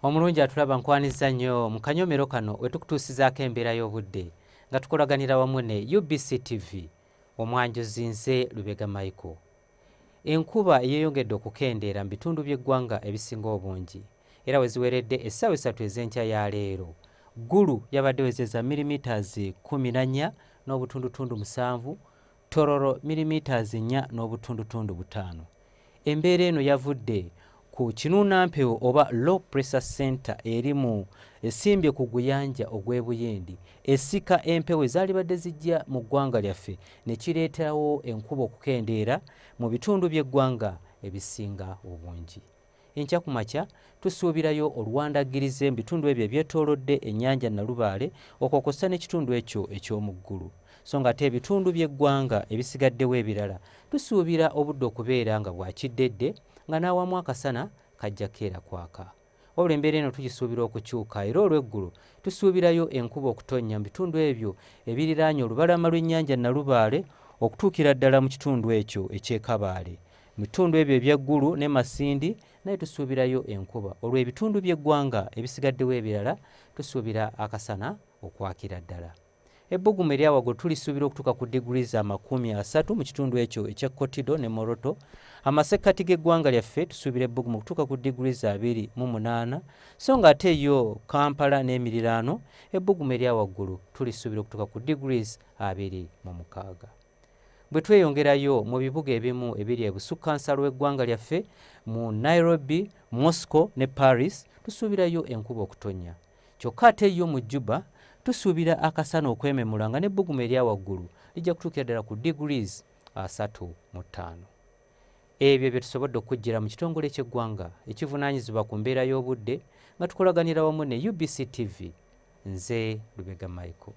Omulungi atulaba nkwanizza nnyo mu kanyomero kano we tukutuusizaako embeera y'obudde nga tukolaganira wamu ne UBC TV. Omwanjuzi nze Lubega Michael. Enkuba eyeeyongedde okukendeera mu bitundu by'eggwanga ebisinga obungi era we ziweredde essaawa essatu ez'enkya ya leero, Gulu yabadde ewezezza milimetres kkumi na nnya n'obutundutundu musanvu, Tororo milimetres nnya n'obutundutundu butaano. Embeera eno yavudde ku kinuunampewo oba Low Pressure Centre eri mu esimbye ku guyanja ogw'e Buyindi esika empewo ezaalibadde zijja mu ggwanga lyaffe ne kireetawo enkuba okukendeera mu bitundu by'eggwanga ebisinga obungi. Enkya ku makya tusuubirayo oluwandaggirize mu bitundu ebyo ebyetoolodde ennyanja Nalubaale okwo kw'ossa n'ekitundu ekyo eky'omu ggulu so ng'ate ebitundu by'eggwanga ebisigaddewo ebirala tusuubira obudde okubeera nga bwa kiddedde nga n'awamu akasana kajja keera kwaka wabula embeera eno tugisuubira okukyuka era olw'eggulo tusuubirayo enkuba okutonnya mu bitundu ebyo ebiriraanye olubalama lw'ennyanja Nalubaale okutuukira ddala mu kitundu ekyo eky'e Kabaale Mu bitundu ebyo ebya Gulu ne Masindi nayo tusuubirayo enkuba olwo ebitundu by'eggwanga ebisigaddewo ebirala tusuubira akasana okwakira ddala. Ebbugumu erya waggulu tulisuubira okutuuka ku diguli za makumi asatu mu kitundu ekyo ekya Kotido ne Moroto. Amasekkati g'eggwanga lyaffe tusuubira ebbugumu okutuuka ku diguli za abiri mu munaana so nga ate yo Kampala n'emiriraano ebbugumu erya waggulu tulisuubira okutuuka ku diguli abiri mu mukaaga. Bwe tweyongerayo mu bibuga ebimu ebiri ebusukkansalo w'eggwanga lyaffe, mu Nairobi, Moscow ne Paris tusuubirayo enkuba okutonnya. Kyokka ate yo mu Juba tusuubira akasana okwememula nga n'ebbugumu erya waggulu lijja kutuukira ddala ku degrees asatu mu ttaano. Ebyo bye tusobodde okukuggyira mu kitongole ky'eggwanga ekivunaanyizibwa ku mbeera y'obudde nga tukolaganira wamu ne UBC TV. Nze Lubega Michael.